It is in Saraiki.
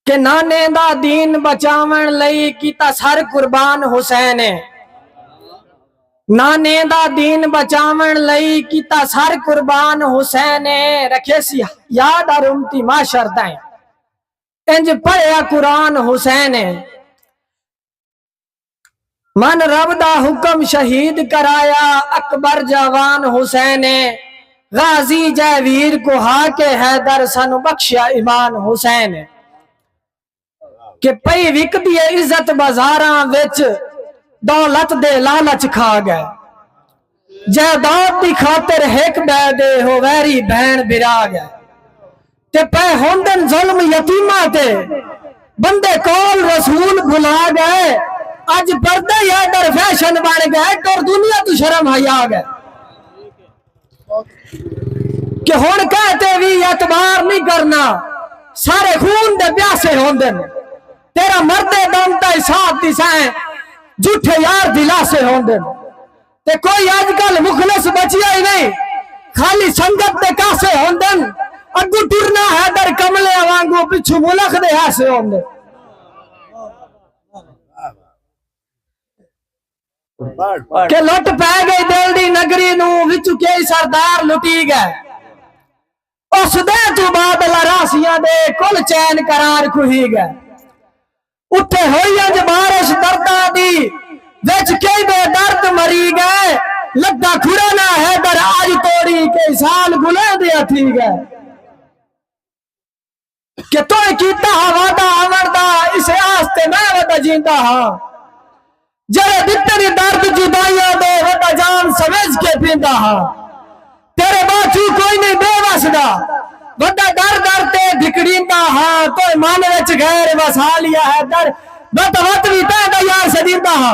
کہ نانے دا دین بچاون لئی کیتا سر قربان حسین ہے نانے دا دین بچاون لئی کیتا سر قربان حسین رکھے سی یاد اور امتی معاشر تائیں انج پڑھیا قرآن حسین من رب دا حکم شہید کرایا اکبر جاوان حسین غازی جے ویر کو ہا کے حیدر سانو بخشیا ایمان حسین کہ پئی وکدی عزت بازاراں وچ دولت دے لالچ کھا گئے جائیداد دی خاطر ہک ٻئے دے او ویری بھیݨ بھرا ڳئے تے پئے ہوندن ظلم یتیماں تے بندے قول رسول بھلا ڳئے اڄ پردے ای آرڈر فیشن بݨ ڳئے ٹر دنیا توں شرم حیا ڳئے کہ ہݨ کہیں تے وی اعتبار نی کرنا سارے خون دے پیاسے ہوندن تیرا مردے دم تئیں ساتھ ݙیسائیں جھوٹے یار دلاسے ہوندن۔ تے کوئی اج کل مخلص بچیا ہی نہیں خالی سنگت دے کاسے ہوندن اگو ٹرنا حیدر کملے وانگو پچھو ملخ دے ہاسے ہوندے کہ لٹ پہ گئی دل دی نگری نو وچو کے سردار لٹی گئے اس دے تو بعد لراسیاں دے کل چین قرار کھوئی گئے اتے ہوئی انج بارش درداں دی وچ کئی بے درد مری گئے لگدا کھڑا نہ حیدر اج توڑی کئی سال گلیں دیاں تھی گئے کہ توئیں کیتا ہا وعدہ آوݨ دا اسے آستے میں ودا جیندا ہاں جیڑھے ڈتے دی درد جدائیاں دے وڈا جام سمجھ کے پیندا ہا تیرے باچو کوئی نہیں بے وس دا وڈا در در تے دھکڑیندا ہا تو من وچ غیر وسا لیا ہے در وت وت وی تیندا یار سدیندا ہا